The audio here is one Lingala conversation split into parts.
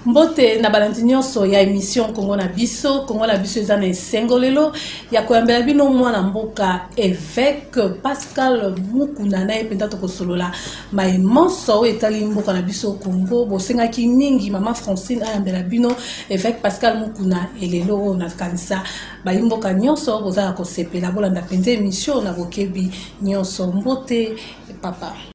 mbote na balandi nyonso ya emission kongo na biso kongo na biso eza na esengo lelo ya koyambela bino mwana mboka eveke pascal mukuna na ye mpenza tokosolola mai manso oyo etali mboka na biso kongo bosengaki mingi mama francine ayambela bino eveke pascal mukuna elelo oyo nakanisa bayi mboka nyonso bozala kosepela bolanda mpenza emission na bokebi nyonso mbote papa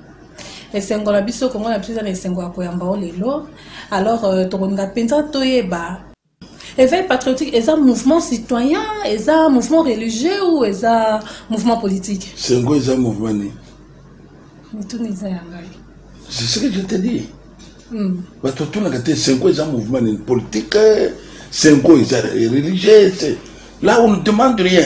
esengo na biso kongo na biso eza na esengo ya koyamba o lelo alors euh, tokolinga mpenza toyeba éveil patriotique eza mouvement citoyen eza mouvement religieux ou eza mouvement politique sengo eza mouvement nini mituna eza ya ngai c'est ce que je te dis hmm. bato otunaka te sengo eza mouvement nini politique sengo eza religieux là on ne demande rien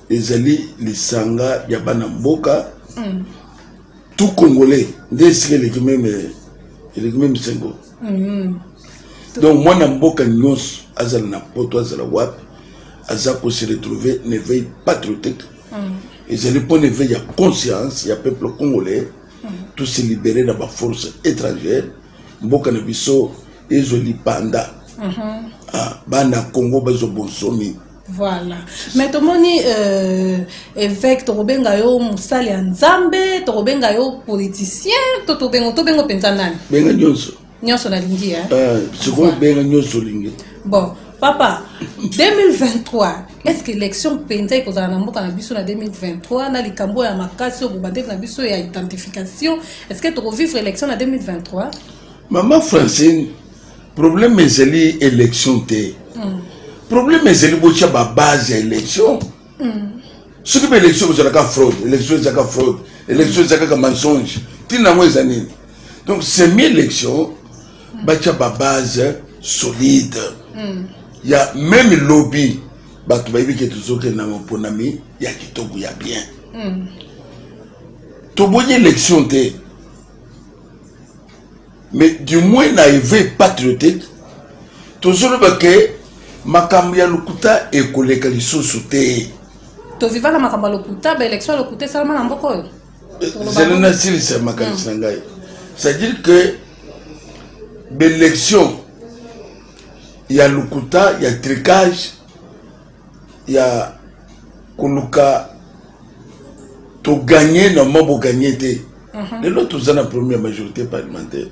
ezali lisanga ya bana mboka mm. tout congolais nde esika eleki meme eleki meme sengo mm. donc mwana mboka nyonso azala na poto azala wapi aza ko se retrouver na éveil patriotique mm. ezali mpo na éveil ya conscience ya peuple congolais mm. tout se libérer na baforce étrangère mboka na biso ezo lipanda mm -hmm. ah, bana congo bazo bonsomi Voilà. Mais tomoni euh, évêque tokobenga yo mosali ya Nzambe, tokobenga yo politicien, to tobengo tobengo penza nani? Benga nyonso. Nyonso nalingi hein. Euh, sikoyo benga nyonso lingi. Bon, papa 2023 est-ce que élection mpenza ekozala na mboka na biso na 2023 na likambo ya makasi oyo bobandeli na biso ya identification est-ce que tokovivre élection na 2023 mama francine problème ezali élection te mm. problème ezali botya babase ya élection mm. soki mpe élection kozalaka fraude élection ezalaka fraude élection eza kaka mensonge ntina yango eza nini donc semi élection mm. batya babase solide mm. ya meme lobi bato bayebi ke tozokenda maponami ya kitoko ya bien mm. tobonyi élection te mais du moins na éveil patriotique tozoloba ke makambo ya lokuta ekoleka lisusu te toviva na makambo ya lokuta baélection ya lokuta esalama na mboka oyo zela nasilisa makanisi na ngai c'est-à-dire que baélection ya lokuta ya tricage ya koluka toganye normalement boganye te mhm. lelo toza na problème ya majorité parlementaire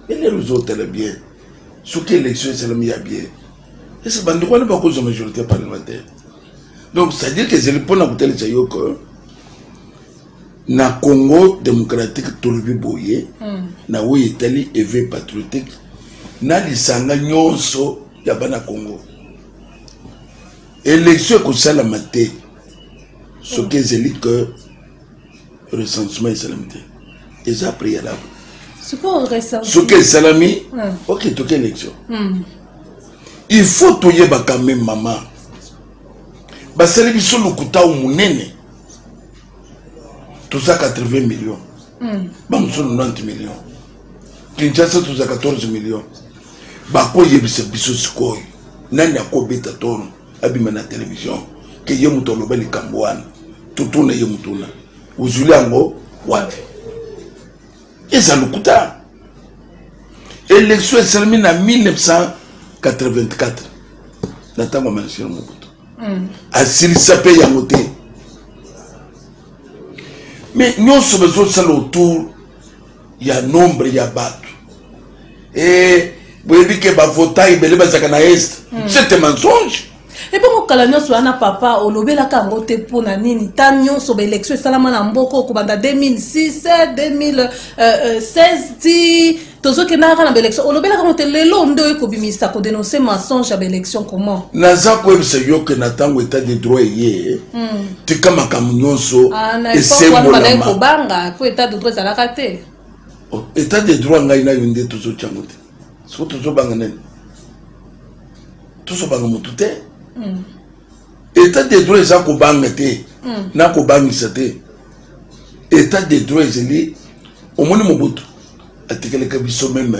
elelo ozotala bien soki élection esalami ya bien ese bandeko wana bakozwa majorité parlementaire donc c'est-à-dire que ezali mpona kotalisa yo que na congo démocratique tolobi boye hmm. na oyo etali eve patriotique na lisanga nyonso ya bana congo Election ekosalama te soki ezali que recensement esalami te eza préalable soki esalami hmm. ok toki élection hmm. il faut toyebaka me mama basali biso lokuta o monene toza 80 million hmm. bamosusu 90 million kinshasa toza 14 million bakoyebisa biso sikoyo nani akobeta tono abima na televizio ke ye moto aloba likambo wana totuna ye motuna ozwili yango wapi eza lokuta élection esalemi na 1984 na ntango ya manasina mobutu hmm. asilisa mpe yango te mais nyonso bazosala autour ya nombre ya bato e boyebi ke bavota ebele bazalaka na est hmm. cete mensonge ebongo kala nyonso wana papa olobelaka yango te mpo na nini ta nyonso baélection esalama na mboka okobanda 2006 2016 ti tozokenda kaka na baélection olobelaka yango te lelo nde oye kobimisa kodenonce mensonge ya baélection comment naza koyebisa yo ke na ntango etat de droit eye hmm. tika makambo nyonso esembolamaobanga po etat de droit ezalaka te oh, etat de droit ngai nayo nde tozotyango te soko tozobanga nani tozobanga motu te hmm. etat de droit eza kobanga te hmm. na kobangisa te etat de droit ezali omoni mobutu atikeleka biso meme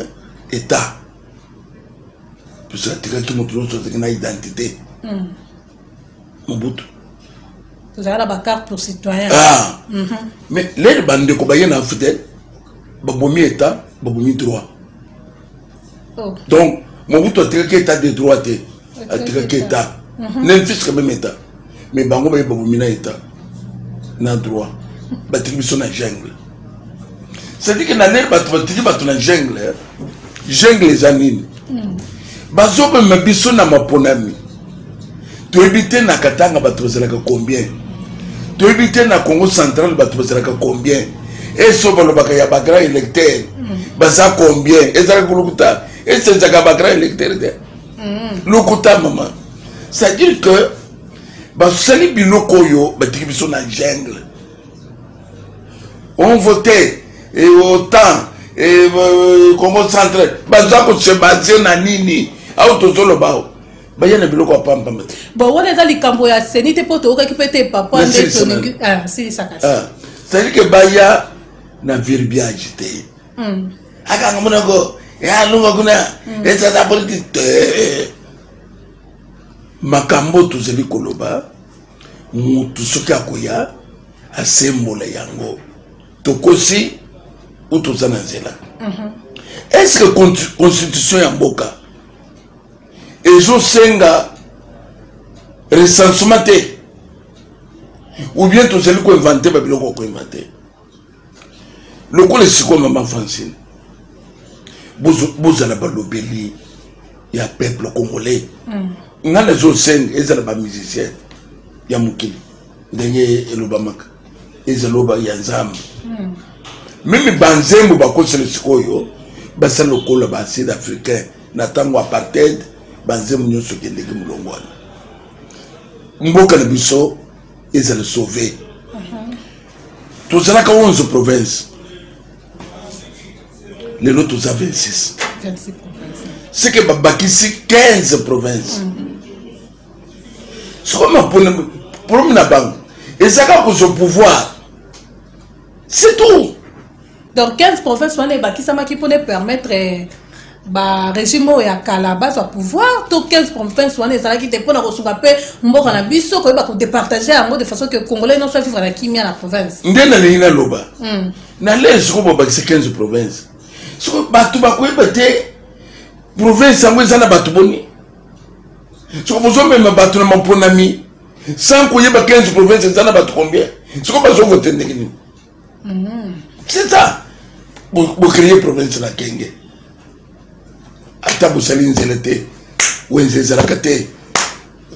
etat biso atikaki motu nyonso azalaki na identité mm. mobutu tozala na bacarte pour citoyen ah. mm -hmm. mais lele bandeko baye na afritel babomi état babomi droit oh. donc mobutu atikaki état de droit te atikaki état mm -hmm. nel fiske meme état mais bango baye babomi na état na droit batiki biso na jungle cest que na ndenge bato batiki bato na jungle eh? jungle eza nini hmm. bazobema biso na maponami toyebi te na katanga bato bazalaka combien toyebi te na congo central bato bazalaka combien eso balobaka ya bagrand électeur hmm. baza combien ezalaka kolokuta esi ezalaka bagrand électeur te hmm. lokuta mama c'est à dire que basali biloko oyo batiki biso na jungle on vote et autant et euh, congo centre baza kose baze na nini au tozoloba o baya na biloko ya pampamba te bon wana eza likambo ya seni te mpo toyokaki mpe te papa nde tolingi ah, silisaka ah, c'est-à-dire que baya na verbiage te hmm. akanga monako ya eh, lunga kuna hmm. ezata politike te makambo tozali koloba mutu soki akoya asembola yango tokosi ou toza na nzela mhm. est ce que constitution ya mboka ezosenga recensement te ou bien tozali koinvente babiloko ya koinvente lokola esiko mama francine bozala balobeli ya peuple congolais mm. nga nazosenga ezala bamusicien ya mokili ndenge elobamaka ezaloba ya nzambe mm. mimi banzembo bakosela sikoyo basala lokola ba sud africain na ntango apartheid banzembo nyonso kendeki molongo wana mboka na biso ezala sauve tozalaka 11 province lelo toza 26 seke babakisi 15 province soko maproblème na bango ezaka kozwa pouvoir c'est tout donc 15 province wana ebakisamaki mpona epermettre eh, barégime oyo ya kala bazwa pouvoir to 15 province wana ezalaki te mpona kosunga mpe mboka na biso koyeba kodepartage yango de façon ke congolais nyonso avivre na kimia na province nde nalingi naloba hmm. na lei soko babakisa 15 province soko bato bakoyeba te province yango eza na bato boni soko bozomema bato na maponami sans koyeba 15 province eza na bato combien soko bazovote ndenge nini mm-hmm. c'est ça bocreye problème na kenge ata bosali nzela te wenze ezalaka te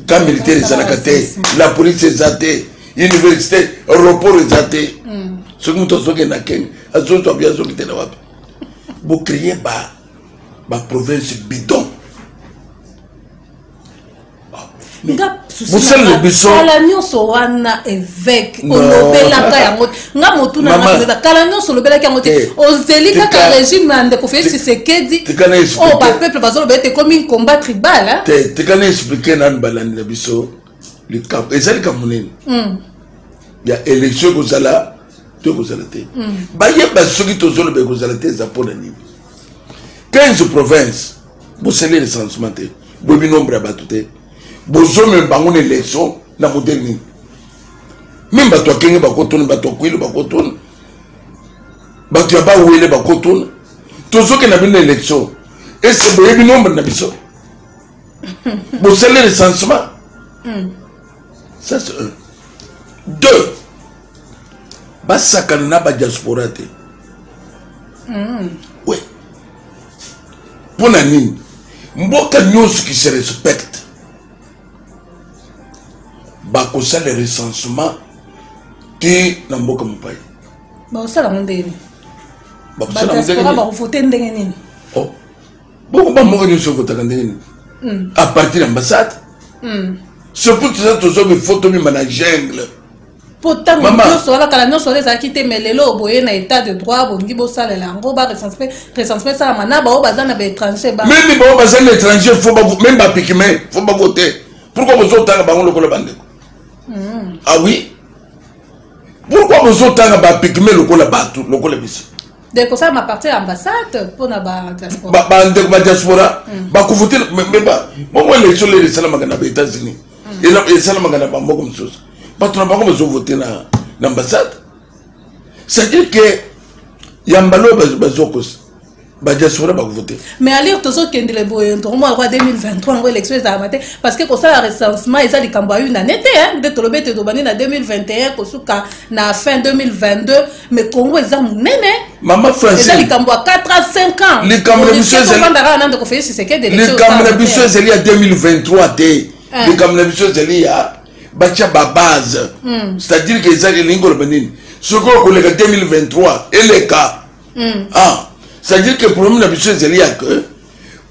ka militaire ezalaka te la police eza te université aéroport eza te mm. soki moto azokenda kenge azozwa bi azoki te na wapi bocreye ba baprovince bidon bosalele bisokala nyonso wana eveke olobelaka yango nga motuna naeza kala nyonso olobelaki yango te eh, ozeli kaka regime ya ndeko fei sisekedi oyo oh, bapeuple bazolobela ete ekomi combat tribal te tika na explike nanu balandi na biso likambo eza likambo nini hmm. ya élection ekozala to ekozala te hmm. bayeba soki tozoloba ekozala te eza mpo na nini 15 province bosali recensement te boyebi nombre ya bato te bozomema bango na election na modele nini meme bato ya kenge bakotuna bato ya kwilu bakotuna bato ya bawele bakotuna tozoke na bino na election ese boyebi nombre na biso bosali recensement hmm. ça c'est un deux basakana na badiaspora te mm. we mpo na nini mboka nyonso qui se respecte bakosala recensement te na mboka mopai bakosala ngo ndenge nini badiaspora bakovote ndenge nini oh. bongo bamboka nyonso evotaka ndenge nini mm. à partir ya ambassade mm. surtout toza tozomi fo tomima na jungle mpo ntango nyonso wana kala nyonso wana ezalaki te mai lelo boye na état de droit bolingi bosalela yango barecensement esalama na baoyo baza na baétranger meme baoyo baza na étranger fo meme bapikime fo bako te pourkoi bozotanga bango lokola bandeko hmm. ah oui pourkoi bozotanga bapikime lokola bato lokola biso de kosalama parti ya ambassade mpona badiaspora bandeko badiaspora bakufutile bongo élection lele esalamaka na baétats-unis esalamaka na bamboka mosusu bato na bango bazovote na ambassade c'est-à-dire que yamba loo bazokosa badiaspora bakovote mais alire tozokendele boye ntongo yango ya 2023 yango élection ezalaka te parce que kosala recensement eza likambo ya une année te nde tolobi ete tobandi na 2021 kosuka na fin 2022 mais congo eza monene mama franceza likambo ya 4 a 5 ans likambo na biso ezaliovandaka nande kofelis tshisekedi likambo na biso ezali ya 2023 te eh. likambo na biso ezali ya batya babase hmm. c'est-à-dire ke eza elingi koloba nini soki okoleka 2023 eleka hmm. ah, c'est-à-dire ke problème na biso ezali ya que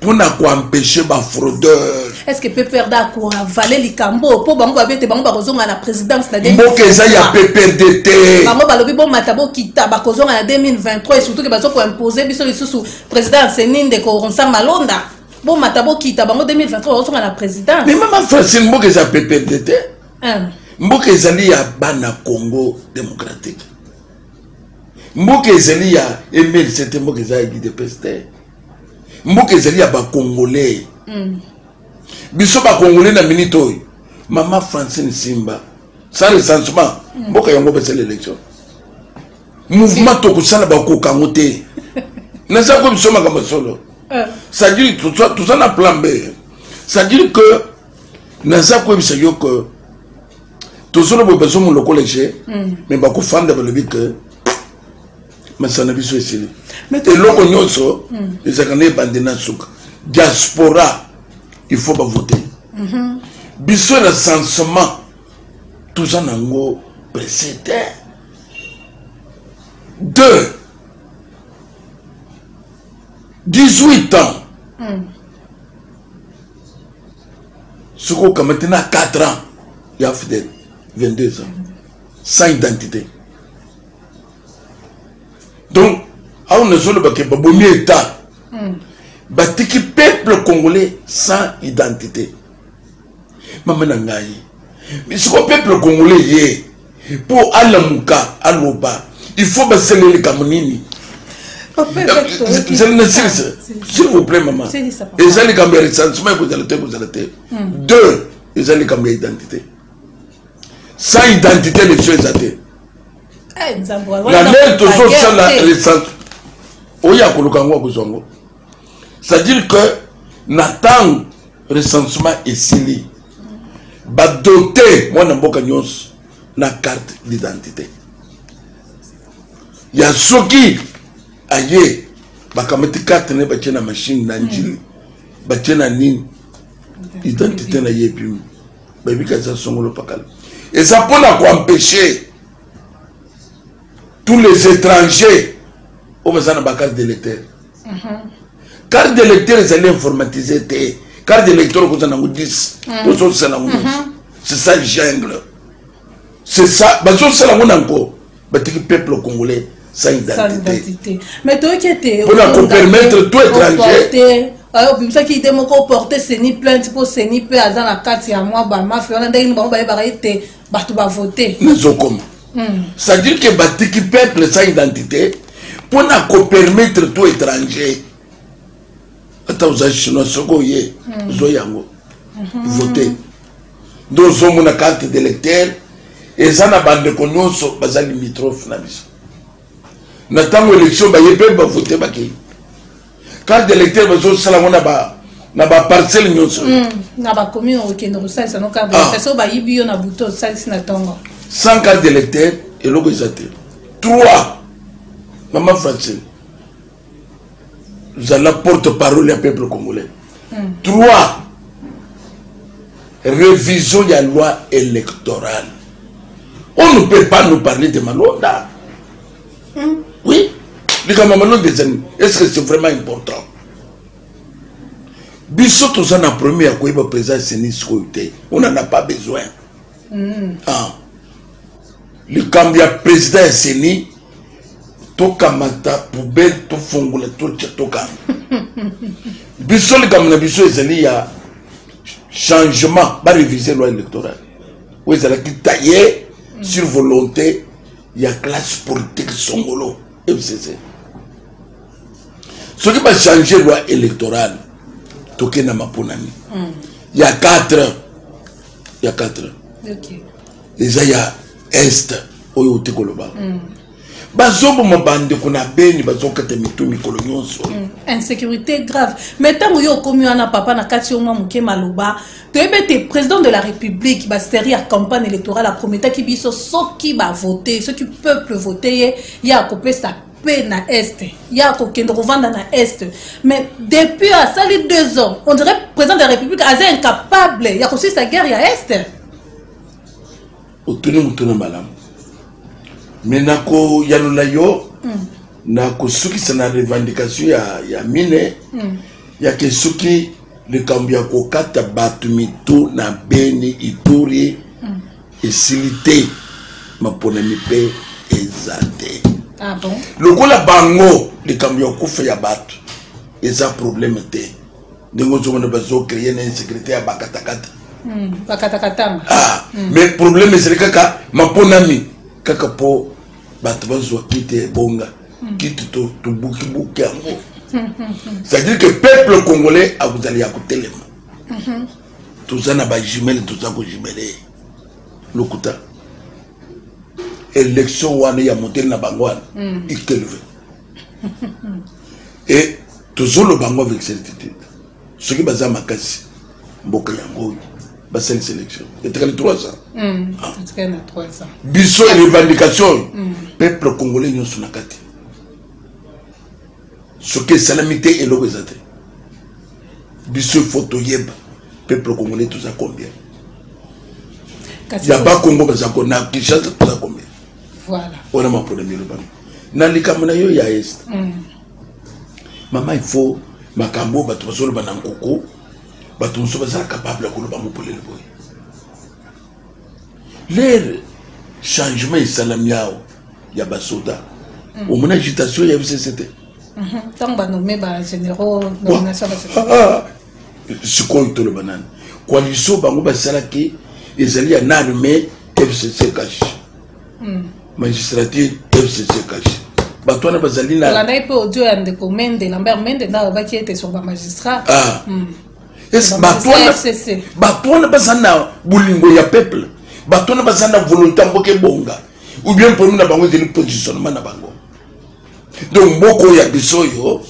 mpo na koempeshe bafraudeur estce pprd akoavale likambo mpo bango babi ete bango bakozonga na présidence na mboka eza ya pprd te bango balobi bomata bokita bakozonga na 2023 et surtout ke bazo koimpose biso lisusu président ya seni ndeko ronsa malonda bomata bokita bango 2023 bakozonga na présidence mais mama francine mboka eza pprd te mboka ezali ya bana congo démocratique mboka ezali ya mlc te mboka eza ya gidepes te mboka ezali ya bacongolais mm. biso bacongolais na minute oyo mama francine simba sans recensement mm. mboka yango basala élection mouvement tokosala bakoka yango te naza ko biso makambo solo euh. c'est-à-dire toza na plan b c'est-à-dire que naza koyebisa yo que tozoloba bazomo lokola je mm. mais bakofanda balobi que masala na biso esili eloko nyonso hmm. ezalaka na ebande na suka diaspora il faut bavote mhm. biso na sensement toza nango presse te deux 18 ans hmm. soki okamati na 4 ans ya fidèle 22 ans sans identité donc awa nazoloba ke babomi etat hmm. batiki peuple congolais sans identité mama na ngai siko peuple congolais ye mpo alamuka aloba il faut basala likambo nini zali na silisa s'il vous plaît mama eza likambo ya recensement ekozala te ekozala te deux eza likambo ya identité sans identité élection eza te eh, la lele tozosala recente oyo ya koluka yango akozwa yango c'est-à-dire que na ntango recensement esili badote mwana mboka nyonso na carte d'identité ya soki aye bakamati carte na ye batye na mashine na njili batye na nini identité na ye epimi bayebi kanisa songolo pakala eza mpo na koempeshe tous les étrangers oyo baza na bacarte d'électeur carte d'électeur ezali informatise te carte d'électeur okozala nango 10 ozosala nango c'est ça jungle c'est ça bazo sala ngo na ngo batiki peuple congolais sans identité mais toyoki ete mpo na kopermettre tout étranger euh, obimisaki ide moko oporte seni plainte mpo seni mpe aza na kati ya mwa bamafia wana ndenge nini bango bayebaka ete bato bavote nazokoma hmm. c'est-à-dire ke batiki peuple sans identité mpo na kopermettre tout étranger ata oza chinois soki oye hmm. ozo yango hmm. vote nde ozomona carte d'électeur eza na bandeko nyonso baza limitrophe na biso na ntango élection baye mpe bavote bakei carte d'électeur bazosala yango na ba na baparcelle nyonso hmm, na bakomi okende kosalisa no carte d'électeur ah. so bayibi yo na buto osalisi na ntongo sans carte d'électeur eloko eza te trois mama francine zala porte parole ya peuple congolais hmm. trois révision ya loi électorale on ne peut pas nous parler de malonda hmm. oui likambo ya malonda ezali est ce que c'est vraiment important biso toza na premier ya koyeba président seni sikoyo te on en a pas besoin mm. ah. likambo ya président ya seni tokamata poubele tofongola totya tokanga biso likambo na biso ezali ya changement barevise loi électorale oyo ezalaki taille mm. sur volonté ya classe politique songolo fcc soki bachange loi électorale tokendama mpo na nini mm. ya 4 heures ya 4 eza ya est oyo ote koloba mm. bazoboma bandeko na beni bazokata mitu mikolo nyonso mm. insécurité grave mais ntango yo okomi wana papa na kati yo mwa moke maloba toyebi ete président de la république baseri ya campagne électorale aprometaki biso soki bavote soki peuple vote ye ye akopesa mpe na est ye akokende kovanda na est mais depuis asali deux ans on dirait président de la république aza incapable ya kosilisa guerre ya est otuni motuna malamu me nakoyanola yo mm. na kosukisa na revendication ya, ya mine mm. yake soki likambo ya kokata bato mito na beni ituri esili te maponami mpe eza te ah bon? lokola bango likambo ya kokufa ya bato eza probleme te ndenge ozomona bazocreye na insécurité ya bakatakata hmm, bakatakatanga ah, hmm. mais probleme ezali kaka maponami kaka mpo bato bazwa kiti ebonga hmm. kiti tobukibuki yango c'est-à-dire que peuple congolais akozali ya kotelema toza na bajumele toza kojumele lokuta élection wana ya moteli na bango wana mm. ikelve e tozoloba yango avec certitude soki baza makasi mboka yango oyo basalisa élection etikali 3 ans mm. ah. biso revendication oyo mm. peuple congolais nyonso na kati soki esalami te eloko eza te biso il faut toyeba peuple congolais toza combien ya bakongo baza ko na kinshasa toza combien voilà wana mapona milobami na likambo na yo ya est mm. mama il faut makambo oyo bato bazoloba na nkoko bato mosusu bazala capable ya koloba mopolele boye lere changement esalami awa ya basoda mm. omona agitation ya fcc te ntango mhm. banome bagénéraux nomination ah, ah. sikoyo toloba nani coalition bango basalaki ezali ya na armée fcc kashi hmm. magistrature fcc kashi bato wana bazali nalandaki mpe audio ya ndeko mende lambert mende nde alobaki ete sur bamagistrat ah. hmm. bato wana baza na bolingo ya peuple bato wana baza na volonté ya mboka ebonga ou bien problème na bango ezali positionnement na bango donc mboka oyo ya biso oyo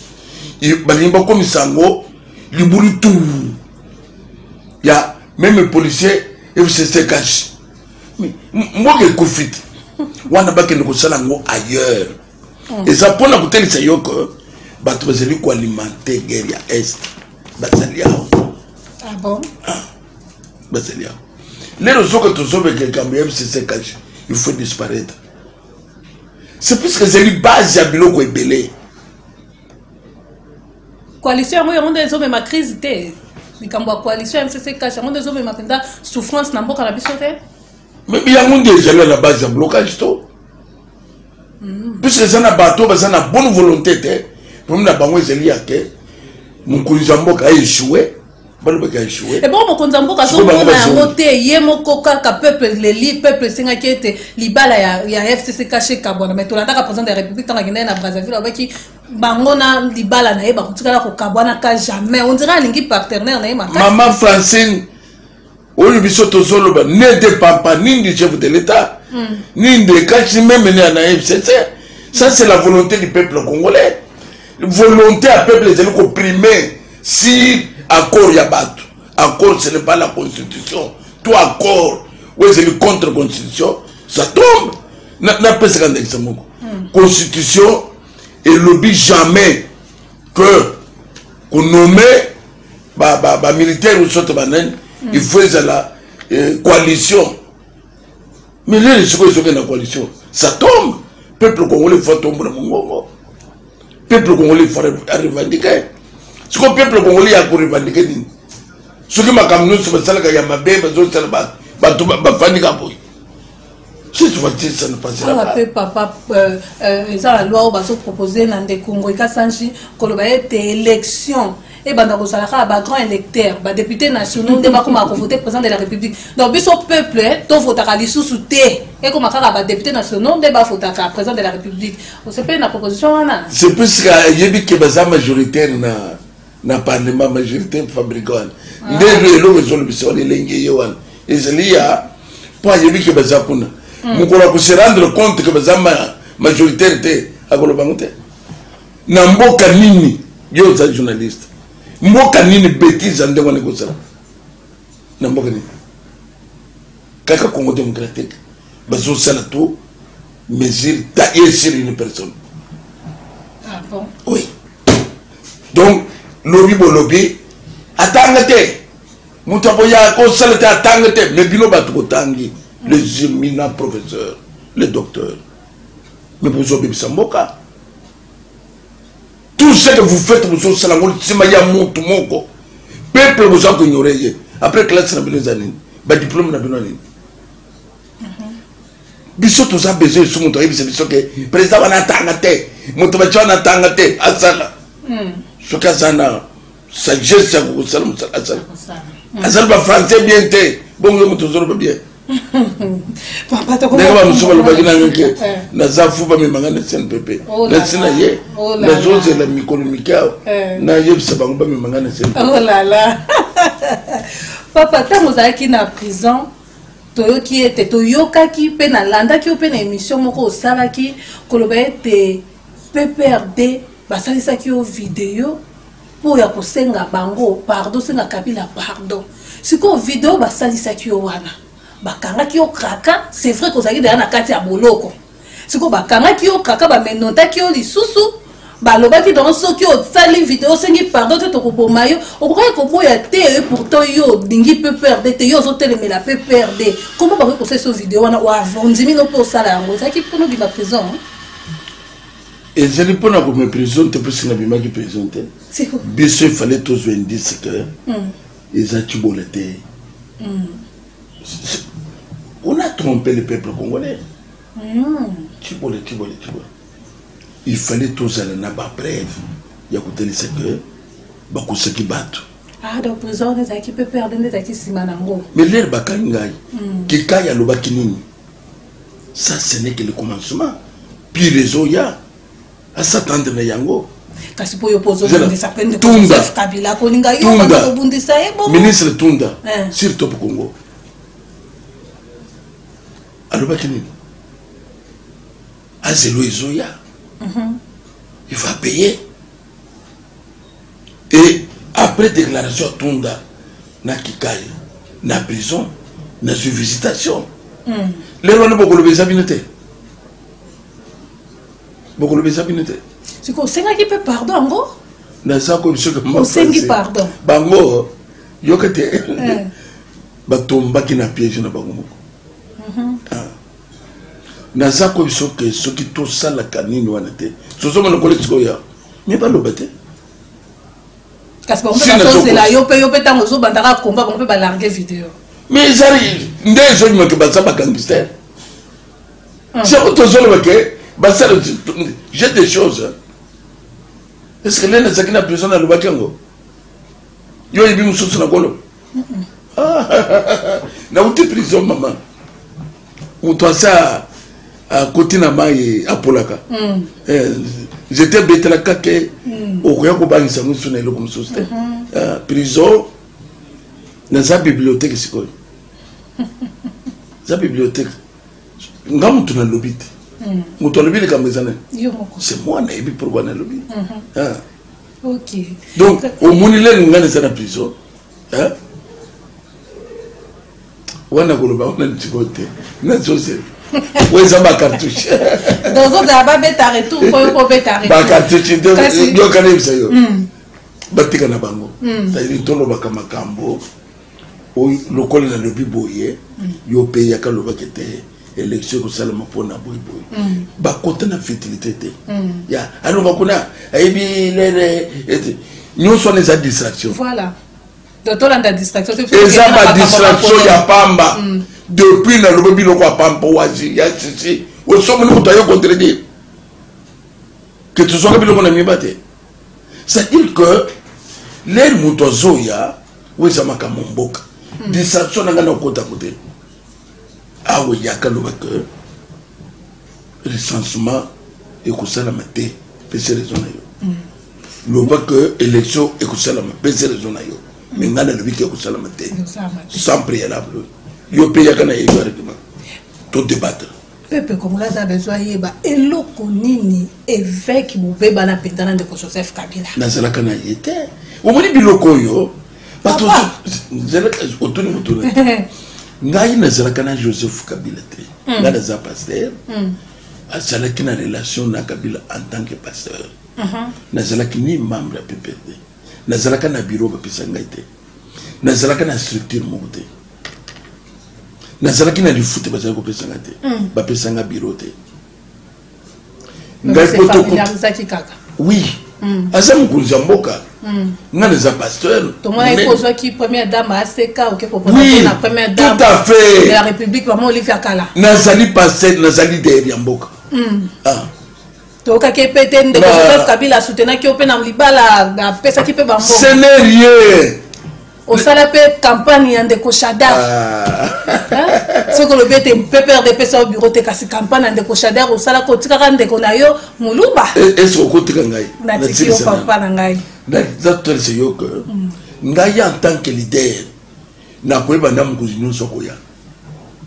balingi bakomisa yango libulu tu ya meme policier fcc cash mboka ekufi te wana bakende kosala yango ailleurs mm. eza mpona kotelisa yo ke bato bazali koalimente guerre ya est bazali awa ah bon? ah, bazali awa lelo soki tozobeka likambo ya mcc kashi il faut disparaître c'est puisque ezali base ya biloko ebele coalition yango yango nde ezomema crise te likambo ya coalition ya mcc kashi yango nde ezomema mpenza souffrance na mboka na biso te Mais yango nde ezali à la base ya blocage to mm. puisque eza na bato baza na bonne volonté te problème na bango ezali ya ke mokonzi ya mboka aechoue balobaki aechoue ebongo eh mokonzi ya mboka azomona yango te ye moko kaka peuple leli peuple esengaki ete libala ya, ya fcc kashe kabwana mai tolandaka président de la république ntango akendaki na brazzaville alobaki bango na libala na ye bakotikala kokabwanaka jamais ondira alingi partenaire na ye makasi mama francine oyo biso tozoloba ne dépend pas ni du chef de l'état mm. ni de kachi meme ne ana fcc ça c'est la volonté du peuple congolais volonté ya peuple ezali koprime sur accord ya bato accord ce n'est pas la constitution to accord oyo ezali contre constitution ça tombe napesaka ndakisa moko hmm. constitution elobi jamais que konome bamilitaire oyo soto banani hmm. il faut ezala eh, coalition mais lelo sikoyo ezokenda coalition ça tombe peuple congolais faut atombola mongongo peuple congolais faut arevendike sikoyo peuple congolais ya korevendike nini soki makambo nyonso basalaka ya mabe bazosala bato bafandika boye si tu vas dire ça ne passera pas pe papa euh, euh, eza la loi oyo bazo proposer na ndeko ngoyi kasanji koloba ete élection ebanda kozala kaka bagrand électeur badepute nationaux nde bakoma kovote président de la république donc biso peuple eh, tovotaka lisusu te ekoma kaka badepute nationaux nde bavotaka président de la république osepeli na proposition wana sepesika ayebi ke baza majoritaire na na parlement majorité fabrika wana ah. nde elo eloko ezolobisa wana elengi eye wana ezali ya mpo ayebi ke baza kuna hmm. mokolo ya kose rendre compte ke baza majoritaire te akoloba yango te na mboka nini yo oza journaliste mboka nini betise ya ndenge wana ekozala na mboka nini kaka congo démocratique bazosala to mesure taille sur une personne ah, bon. oui donc lobi bolobi atanga te moto akoya kosala te atanga te mais bino bato botangi les éminents professeurs les docteurs mais bozobebisa mboka tout ce que vous faites bozosala ngo nsima ya motu moko peuple boza koignore ye après classe na bino eza nini badiplome na bino nini biso toza besoin esu moto ayebisa biso ke président wana atanga te moto baci wana atanga te asala hmm. soki aza na sagesse ya kokosala mosala asala hmm. azali bafrançais bien te bongo yo moto ozoloba bien ndenge bamosusu balobaki nanga ke eh. naza fu bamemanga na cnpp oh nasi na ye oh nazozela mikolo mike awa eh. nayebisa bango bamemanga na cnpp oh papa ntango ozalaki na prison toyoki ete toyokaki mpe nalandaki yo mpe na emission moko osalaki koloba ete pprd basalisaki yo video mpo ya kosenga bango pardon senga kabila pardon sikoyo video basalisaki yo wana bakangaki yo kraka c'est vrai kozalaki deya na kati ya boloko siko bakangaki yo kaka bamenotaki yo lisusu balobaki dongo soki osali video osengi pardon te tokoboma yo okokaki koboya te pourtant yo olingi pprd te yo ozotelemela pprd koma bakoki kosalisa video wana ondimi no mpe osala yango ezalaki mpona obima prison ezali mpona kome prison te mposi nabimaki prison te biso efale tozwa indice ke hmm. eza cibola te hmm. on a trompé le peuple congolais Tshibola, tshibola, tshibola. Il fallait tozala na ba preuve ya kotalisa que bakosaki bato. Ah, donc président wana ezalaki mpe perde nde ezalaki nsima na yango. Mais lere bakangi ngai. Hmm. Kikai alobaki nini? Ça ce n'est que le commencement. Puis réseau ya asatendre na yango. kasi mpo yo mpo ozobundisa mpe ndeko joseph kabila kolinga yo banda kobundisa ye bongo ministre tunda eh. sur top congo alobaki nini azelo ezoya mhm. il va payer et après déclaration atunda na kikai na prison nazwi visitation hmm. lelo wana bokoloba eza bino te bokoloba eza bino te siko osengaki mpe pardon yango naza koyebi soki osengi pardon bango yoka te eh. Ba tombaki na piège na bango moko. Mhm. Ah. Naza ko biso ke soki to sala kanini wana te. Sozo mona kole tiko ya. Mais ba loba te. Kasi ba mpe ba sosela yo pe yo pe tango zo bandaka combat ba mpe ba larguer vidéo. Mais ezali nde ezo nyuma ke ba za ba gangster. Ah. C'est ko tozo loba ke ba sala j'ai des choses. Hein. Est-ce que l'un des akina prison na lobaki yango? Yo yebi mususu na kolo. nauti prison mama moto asa akoti na mai apolaka mm. eh, nzete ebetelaka te mm. okoya kobangisa yango mosusu na eloko mosusu te mm-hmm. ah, prison naza bibliothèque sikoyo eza bibliothèque nga moto nalobi te mm. moto alobi likambo eza nani se mwana yebi pourkui nalobi mm-hmm. ah. okay. donc omoni lelo ngai naza na prison hein? wana koloba wana litiko te nazozela oyo eza bacartouche dozozela babeta retour mpo yo kobeta rebacartouche yokana yebisa yo batika na bango hmm. cetadire tolobaka makambo lokola nalobi boye yo mpe yaka lobaki te élection ekosalama mpo na boye boye mm. bakota na futilité te mm. ya alonga kuna ayebi lele nyonso wana eza distraction voilà tolanda distraction eza badistraction ya pamba mm. depuis nalobi biloko ya pamba wazi ya sisi osomoni moto ayo contredire ke tozwaka biloko na miba te c'est dire que lere moto azoya oyo eza makambo mboka hmm. distraction na ngai na okota kote awa eyaka loba ke recensement ekosalama te pese raison na yo hmm. loba ke élection ekosalama pese raison na yo me ngai nalobi ke ekosalama te sans préalable yo mpe yaka na yeyo areglement to débattre Peuple congolais aza besoin ayeba eloko nini evêque bobeba na mpenza na ndeko Joseph Kabila. Nazalaka na ye te. Omoni biloko oyo bato otuni moto na ngai nazalaka na Joseph Kabila te. Hmm. Ngai naza pasteur. Hmm. Azalaki na relation na Kabila en tant que pasteur. Uh-huh. Nazalaki ni membre ya PPRD. Nazalaka na bureau bapesa ngai te. nazalaka na structure moko te nazalaki na lifuta bazali kopesanga te hmm. bapesanga biro te ngai kaka oui hmm. aza mokonzi ya mboka hmm. nga naza pasteur tomonaki kozwaki première dame aseka oke koponapona première dame tout à fait de la république mama olive ya kala nazali pasteur nazali dere ya mboka ah. toyokaki ye mpe te ndeko joseph kabila asutenaki yo mpe na libala apesaki mpe bango scenarie osala mpe campagne ya ndeko shadar ah. soki olobi ete ppr epesa yo bureau te kasi campagne ya ndeko shadar osalaka otikaka ndeko na yo moluba ese okotika ngai natiki yo papa na ngai natotolisa yo ke mm. ngai en tant que leader na koyeba nda mokonzi nyonso akoya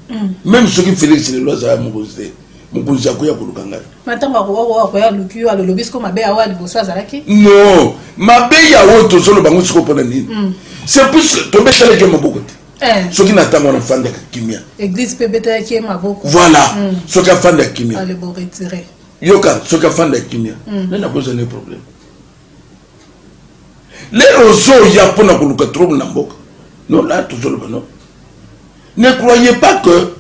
mm. meme soki felix lelo azala mokonzi te mokonzi akoya koluka ngai matango akoya aluki yo alolobi siko mabe awa liboso azalaki non mabe ya oyo tozoloba yango siko mpona nini mm. c'est plus tobetalaki maboko te eh. soki na ntango wana afandaka kimia église mpe ebetalaki ye maboko voilà mm. soki afandaka kimia yoka soki afandaka kimia nani akozala ne problème lelo ozoya mpo na koluka trouble na mboka non la tozoloba non ne croyez pas que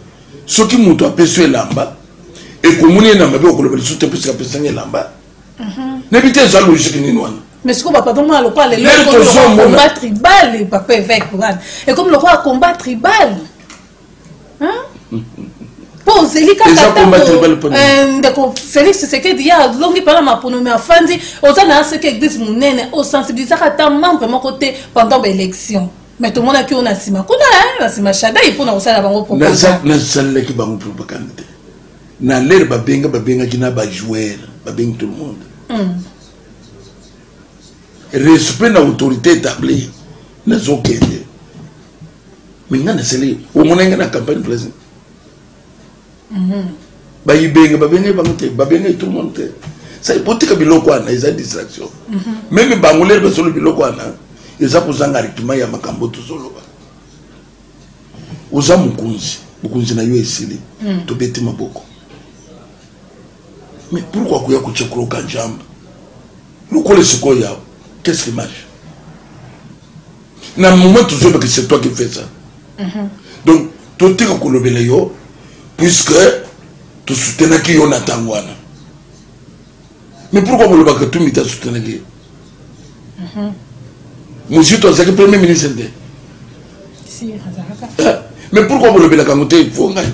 soki moto apesi yo elamba ekomoni ye na mabe okoloba lisusu te mposi apesanga elamba mhm. nayebi te eza logike nini wana mais sikoyo bapapa mwana lokola lelo combat tribal papa évêque wana ekomi lokola combat tribal mpo ozeli kakandeko eh, félix tshisekedi ye alongi mpena maponomi afandi oza na aseke église monene osensibilisaka ata membre moko te pendant baélection mais tomonaki oyo na nsima kuna eh, na nsima shadai mpo na kosala bango propagandenasalelaki bango propagande te na lere babenga babengaki na bajoueur babengi tout le monde hmm. respect na autorité établie nazokende mais nga nazali omona nga na campagne plaisir mhm. bayibenga babenge bango te babenge tout le monde te sai botika biloko wana eza distraction mhm. meme bango lere bazolo biloko wana eza kozanga rituma ya makambo tozoloba oza mokonzi mokonzi na yo esili mhm. tobeti maboko mais pourquoi koya kotya kuroka njamba lokola esikoyo yawo qu'est ce qui marche na moment tozoyeba ke c'est toi qui fait ça mhm. donc totika kolobela yo puisque tosutenaki yo na ntango wana mais pourquoi kolobaka tumbi te asutenaki ye mhm. mozito azalaki premier ministre te eh, mais pourquoi kolobelaka yango te fo ngai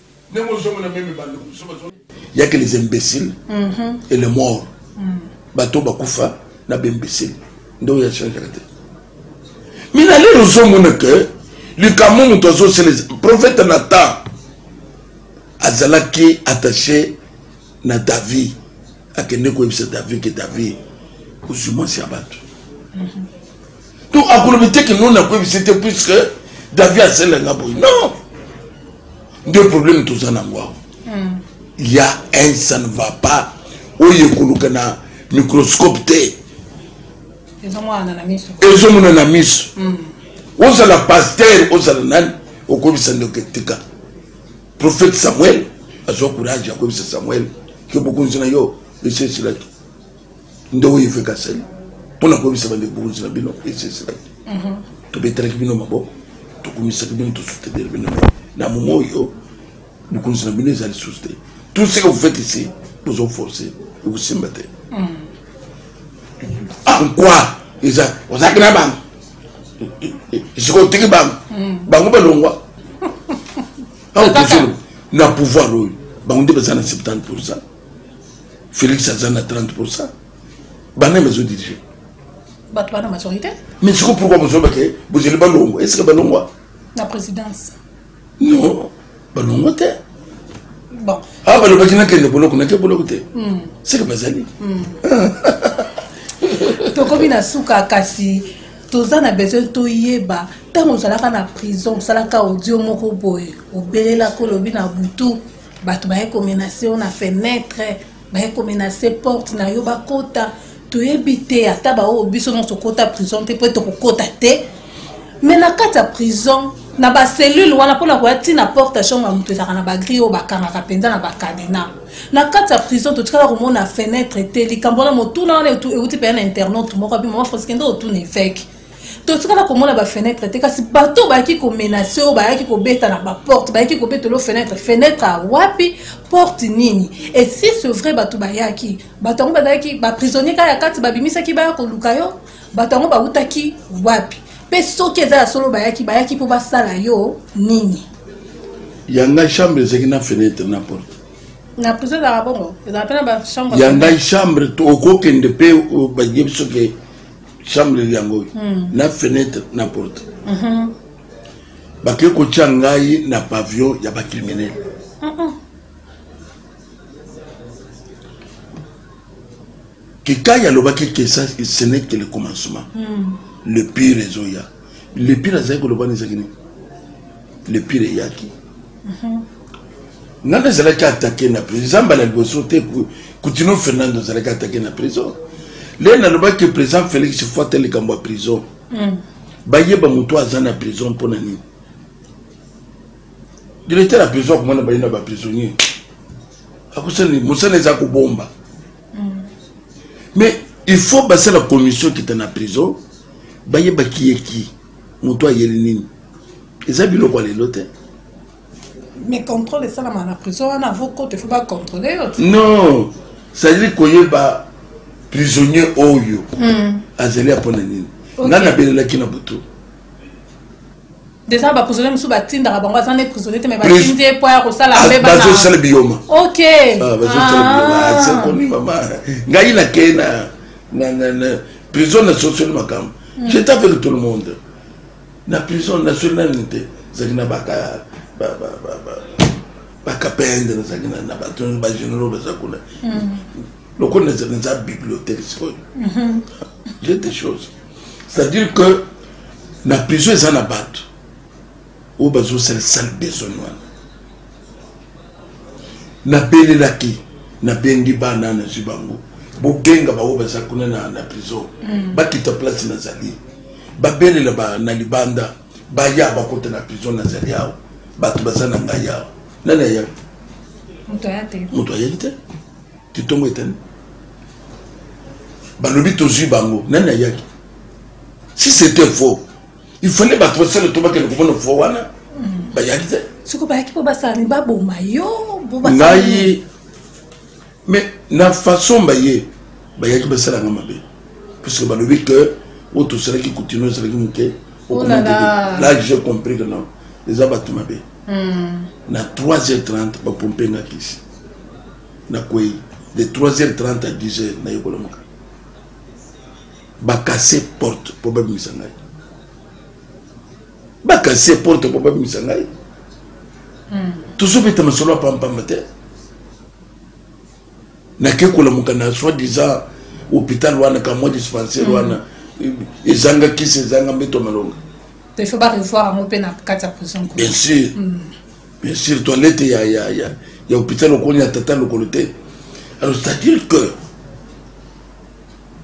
Ndenge ozongo na meme bando mususu bazo. Ya que les imbéciles et les morts. Bato bakufa na ba imbéciles. Ndio ya change la tête. Mais na lelo ozongo na que likambo moto azosala profeta natan azalaki attaché na david akende koyebisa david ke david ozwi mwasi ya bato mhm. donc akolobi te ke non nakoyebisi te puisque davi asela nga boye non nde problème toza nango awa hmm. ya un ça ne va pas oyo ekoluka na microscope te ezomonana na miso hmm. ozala paster ozala nani okobisa ndoke tika prophète samuel azwa courage akobisa samuel ke bokonzi na yo esesilaki nde oyo eveke asali mpo na koyebisa bande bokonzi na bino esi esilaki mhm. tobetelaki bino maboko tokumisaki bino tosutenir bino na momo oyo bokonzi na bino eza lisusu te tout ce que vous faites ici bozo force ekosimba te mhm. en quoi eza ozalaki na bango sikoyo otiki bango mhm. bango balongwa awa na pouvoir oyo bango nde baza na 70 pourcent Felix aza na 30%. Bana maison dirigée. Bato bana majorité. Mais siko pourquoi vous avez que vous allez balongo Est-ce que balongo La présidence. Non, balongo te. Bon. Ah balobaki na kende boloko na te boloko te. Hmm. C'est que bazali. Hmm. Tokomi na suka kasi toza na besoin toyeba ntango ozalaka na prison osalaka audio moko boye obelelaka olobi na butu bato baye komenase yo na fenetre baye komenase porte na yo bakota toyebi te ata baoyo biso nyonso kota prison te mpo tokokota te me na kati ya prison na bacellule wana mpo na koya ti na porte chambre ya moto ezalaka na bagri oyo bakangaka mpenza na bacadena na kati ya prison totikala komona fenetre te likambo wana motuna wana euti mpenza na internaute moko abi mama franskende otuna eveke totikala komona bafenetre te kasi bato oyo bayaki komenase oyo bayaki kobeta na baporte bayaki kobetolo fenetre fenetre awapi porte nini et si ce vrai bato bayaki bato yango bazalaki baprisonnier kaka ya kati babimisaki baya koluka yo bato yango bautaki wapi mpe soki eza ya solo bayaki bayaki mpo basala yo nini ya ngai chambre ezalaki na fenetre na porte na prison ezalaka bongo ezalaka mpe na bachambre ya ngai chambre okokende mpe bayebi soki chambre yango oyo hmm. na fenêtre na porte mhm. bakei kotya ngai na pavillon ya bacriminel kikai alobaki ke ce n'est que le commencement hmm. le pire ezoya le pire azali koloba na ezaki nini le pire eyaki nani azalaki atake na prison eza mbala liboso te kutino fernando azalaki atake na prison le nalobaki président félix fo ata likambo ya prison mm. bayeba moto aza na prison mpo na nini directeur ya prison akomona baye na baprisonnier akosani mosala eza kobomba mm. mais il faut basala commission kita na prison bayeba kiyeki moto ayeli nini eza biloko ya lelo te mais contrôle esalama na prison wana avokota efo bacontrôle yo non cestadire koyeba prisonnier oyo hmm. azali ya mpo na nini ngai nabelelaki na butu déjà ba prisonnier musu ba tinda bango aza ne prisonnier te mais ba tindi po ya ko sala mbeba ah, na bazo sala biyoma OK ah bazo sala biyoma ah. ah, c'est connu mama ngai na ke na na na prison na social makam hmm. j'étais avec tout le monde Na prison nationale nte zaki na baka ba ba ba ba ba kapende na zaki na ba tun ba generaux ba zakuna. Mm. Loko na zaki na bibliothèque sikoyo. Mm-hmm. J'ai des choses. C'est-à-dire que na prison eza na bato oyo bazosala sale besogne wana nabelelaki nabendi bana nazwi bango bobenga baoyo baza kuna na, na prison mm. bakita place nazali babelela ba, na libanda baya bakota na prison nazali awa bato baza na ngai awa nani aya moto ayaki te titongo etani balobi tozwi bango nani ayaki si c'était faux il fallait bato basala to bakende komona fo wana bayaki te soko bayaki mpo basala ni baboma yo ngai mais na façon baye bayaki basalanga mabe puisque balobi que oyo tosalaki kutino ezalaki moke oh là j'ai compris que non eza bato mabe hmm. na 3h30 bapompe nga kisi nakwei de 3h30 à 10h nayekolamaka bakase porte mpo babimisa ngai bakase porte mpo babimisa ngai hmm. tozobeta masolo ya pampamba te nake kolamuka na soit disant hôpital wana kamwa dispensaire hmm. wana ezanga kisi ezanga mbeto malonga bien sûr hmm. bien sûr toilette ya, ya, ya, ya hôpital okoni ya tata lokolo te alors c'est à dire que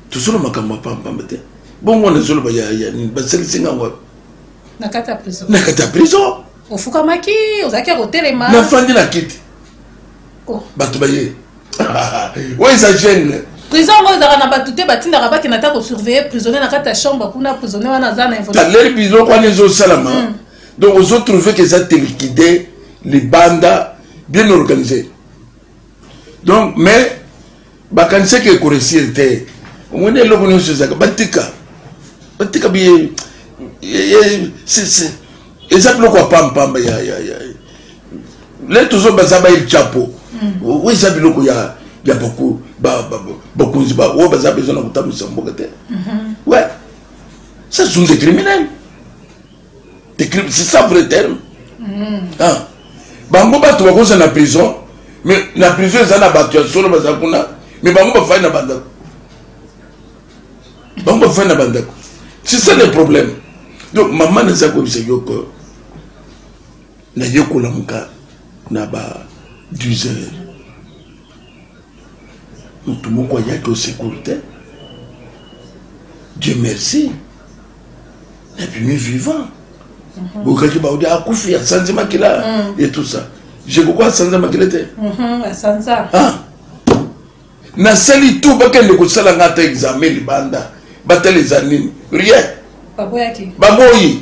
tozo na makambo ya pambapamba te bongo wana ezoloba ya nini basalisi ngai wapi na kati ya prison na kati ya prison ofukamaki ozalaki ya kotelema nafandi na kiti oh. bato baye oyo eza gene prison yango ezalaka na bato te batindaka bakenda ata kosurveille prisonnier na kati ya chambre kuna prisonnier wana aza na involontaire prison wana ezosalama hmm. donc ozotrouve ke eza telikide libanda bien organisé donc mais bakanisaki ekoresir te omoni eloko nyonso ezalaka batika batika biye eza biloko ya pampamba ya le tozo baza baye chapo mm. oyo eza biloko ya ya bakonzi oyo baza bezo na kotambwisa mboka te mm-hmm. we ça sont des criminels c'est ça vrai terme mm. ah. bango bato bakoza na prison mais na prison eza na bato ya solo baza kuna mais bango bafai na bandako bango bafai na bandako c'est ça le problème donc mama naza koyebisa yo ke nayekolamuka na ba 10 heures moto moko ayaki osekuru te dieu merci na bimi vivant mhm. bokaki baudi akufi asanzi makila mm. et tout ça jekoko asanza makila te mhm, ah. nasali to bakende kosala nga ata examen libanda batala eza nini rien baboyi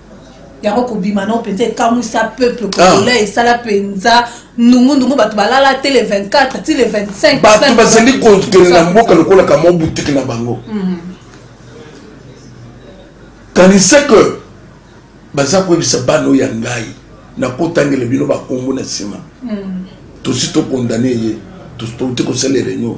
yango kobima nao mpenza ekamwisa peuple ah. congolais esala mpenza ndungundu bato balala te le 24 ti le 25 bato bazali kokende na mboka lokola kamwa butiki na bango mhm. kanisa ke baza koyebisa bana oyo ya ngai nakotangela bino bakombo na nsima mhm. tosi tokondane ye tosi touti kosala reunion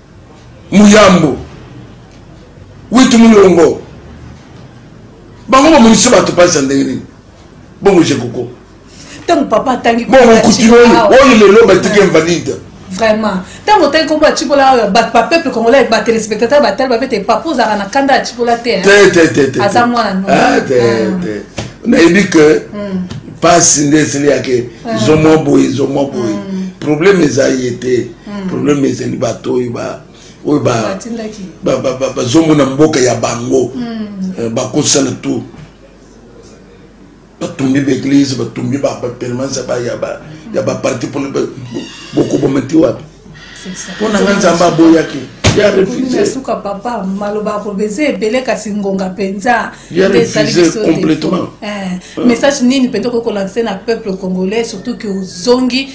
muyambo witu mulongo bango bamonisi bato mpasi ya ndenge nini bongo jekoko ntango papa atangi bongo kutino oyo lelo batiki invalide vraiment ntango otangi kombo ya cipola oyo bapeple congolais batelespectateur batali babete papa ozalaka na kanda ya cipola te aza mwana no ah, ah. nayebi ke mpasi hmm. nde esili yake zomwa boye zomwa boye hmm. problème eza ye te hmm. problème ezali bato oyo ba oyo bazongo na mboka ya bango hmm. eh, bakosala tout batumbi baeglise batumbi bapermanence ya baparti bokoboma ti wapi mpo na nga nzambe aboyaki nasuka papa maloba akoloba eza ebele kasi ngonga mpenza eh, message nini mpenza okoki kolanse na peuple congolais surtout ke ozongi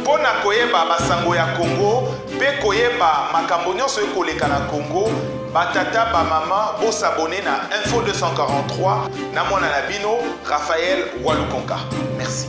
Mpo na koyeba basango ya Congo mpe koyeba makambo nionso e koleka na Congo, ba tata ba maman bo s'abonner na info 243 na mwana na bino Raphaël Walukonka. Merci.